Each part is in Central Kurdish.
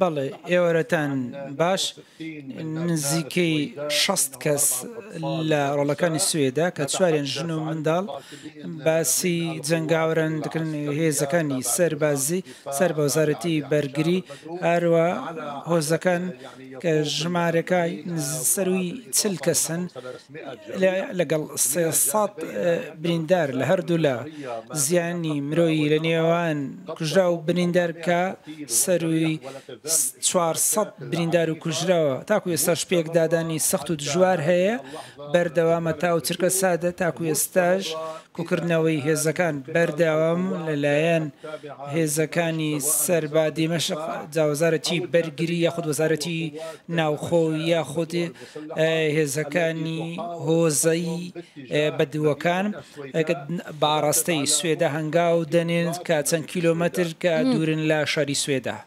بەڵێ ئێوارەتان باش نزیکەی شەست کەس لە ڕۆڵەکانی سوێدا کە چواریان ژن و منداڵ باسی جەنگاوران دەکەن هێزەکانی سەربازی سەر بە وەزارەتی بەرگری هەروە هۆزەکان کە ژمارەکای سەرووی چل کەسن لەگەڵ سێ سەد بریندار لە هەردوولا، زیانی مرۆیی لە نێوان کوژراو و بریندار کە سەرووی چوار سەد بریندار و کوژراوە، تاکو ئێستاش پێکدادانی سەخت و دژوار هەیە، بەردەوامە تاوو چرکە سادە تاکو ئێستاش کۆکردنەوەی هێزەکان بەردەوام لەلایەن هێزەکانی سەر بە دیمەشق جاوەزارەتی بەرگری یاخود وەزارەتی ناوخۆ یاخود هێزەکانی هۆزەی بەدووەکان بە ئاڕاستەی سوێدە هەنگاو دەنێن کە چەند کیلۆمەتر کە دوورن لە شاری سوێدە.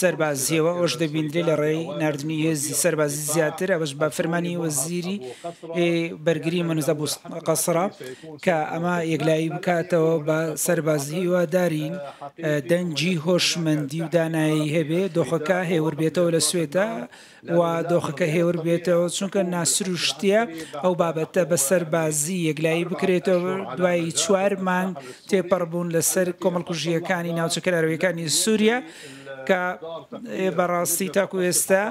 سەربازییەوە، ئەوەش دەبیندرێت لە ڕێی ناردنی هێزی سەربازی زیاتر، ئەوەش بە فەرمانی وەزیری بەرگری مەنوز ئەبو قەسرە، کە ئەمە یەکلایی بکاتەوە بە سەربازی، هیوادارین دەنگی هۆشمەندی و دانایی هەبێت، دۆخەکە هێوربێتەوە لە سوێدە. و دۆخەکە هێور بێتەوە، چونکە ناسروشتییە ئەو بابەتە بە سەربازی یەکلایی بکرێتەوە، دوای چوار مانگ تێپەڕبوون لەسەر کۆمەڵکوژییەکانی ناوچە کەناراوییەکانی سوریا، کە بەڕاستی تاکو ئێستا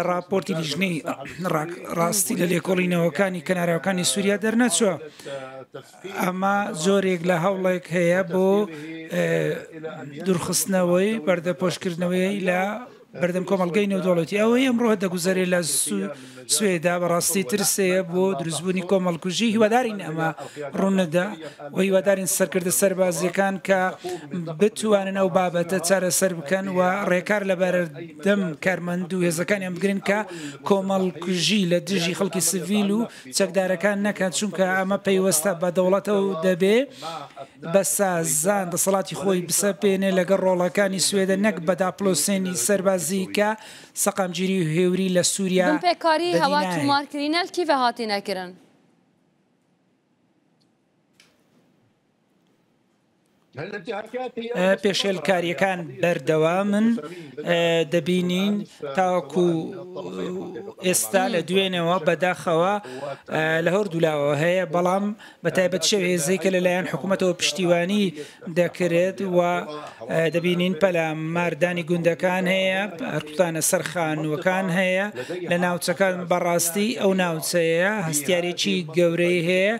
ڕاپۆرتی لیژنەی ڕاستی لە لێکۆڵینەوەکانی کەناراوەکانی سوریا دەرنەچووە، ئەمە جۆرێک لە هەوڵێک هەیە بۆ دورخستنەوەی پەردەپۆشکردنەوەی لە بەردەم کۆمەڵگەی نێودەوڵەتی. ئەوەی ئەمڕۆ دەگوزەرێ لە سوێدا بەڕاستی ترسێیە بۆ دروستبوونی کۆمەڵکوژی، هیوادارین ئەمە ڕووننەدا و هیوادارین سەرکردە سەربازییەکان کە بتوانن ئەو بابەتە چارەسەر بکەن و ڕێکار لە بەردەم کارمەند و هێزەکانیان بگرن کە کۆمەڵکوژی لە دژی خەڵکی سڤیل و چەکدارەکان نەکەن، چونکە ئەمە پەیوەستە بە دەوڵەتەوە و دەبێ. بەسە زان دەسەڵاتی خۆی بسەپێنێ لەگەڵ ڕۆڵەکانی سوێدە نەک بە داپڵۆسێنی سەربازی کە سەقامگیری و هێوری لە سوریا دەدی ناهێ. بنپێکاری هەوا توومارکرینەل کیڤە هاتینە کرن. پێشێلکارییەکان بەردەوامن دەبینین تاوەکو ئێستا لە دوێنێوە بەداخەوە لە هەوردوولاوە هەیە بەڵام بەتایبەت شەو هێزەی کە لەلایەن حکومەتەوە پشتیوانی دەکرێت و دەبینین پەلە مار دانی گوندەکان هەیە هەرکوتانە سەر خانوەکان هەیە لە ناوچەکان بەڕاستی ئەو ناوچەیە هەستیارێکی گەورەی هەیە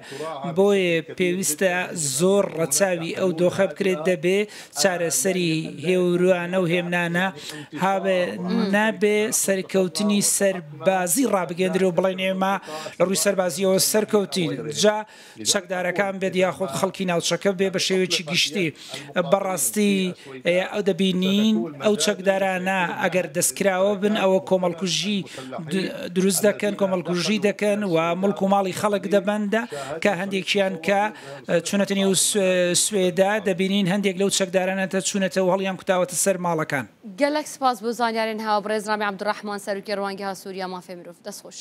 بۆیە پێویستە زۆر ڕەچاوی ئەو دۆخە بکرێت دەبێ چارەسەری هێوروانە و هێمنانە هابێ نابێ سەرکەوتنی سەر بازی ڕابگەیەندرێ و بڵێن ئێمە لە ڕووی سەربازییەوە سەرکەوتین، جا چەکدارەکان بێت یاخود خەڵکی ناوچەکە بێ بە شێوەیەکی گشتی. بە ڕاستی دەبینین ئەو چەکدارانە ئەگەر دەستکراوە بن ئەوە کۆمەڵکوژی دروست دەکەن، کۆمەڵکوژی دەکەن و موڵک و ماڵی خەڵک دەبەندە کە هەندێکیان کە چوونەتە نێو سوێدا دەبینین هەندێک لەو چەکدارانەتە چوونەتەوە هەڵیان کوتاوەتە سەر ماڵەکان. گەلەک سپاس بۆ زانیارێن هاوە بڕێز ڕامی عبدالرحمن سەروکی ڕوانگە ها سوریا مافێ مرۆڤ دەست خۆش.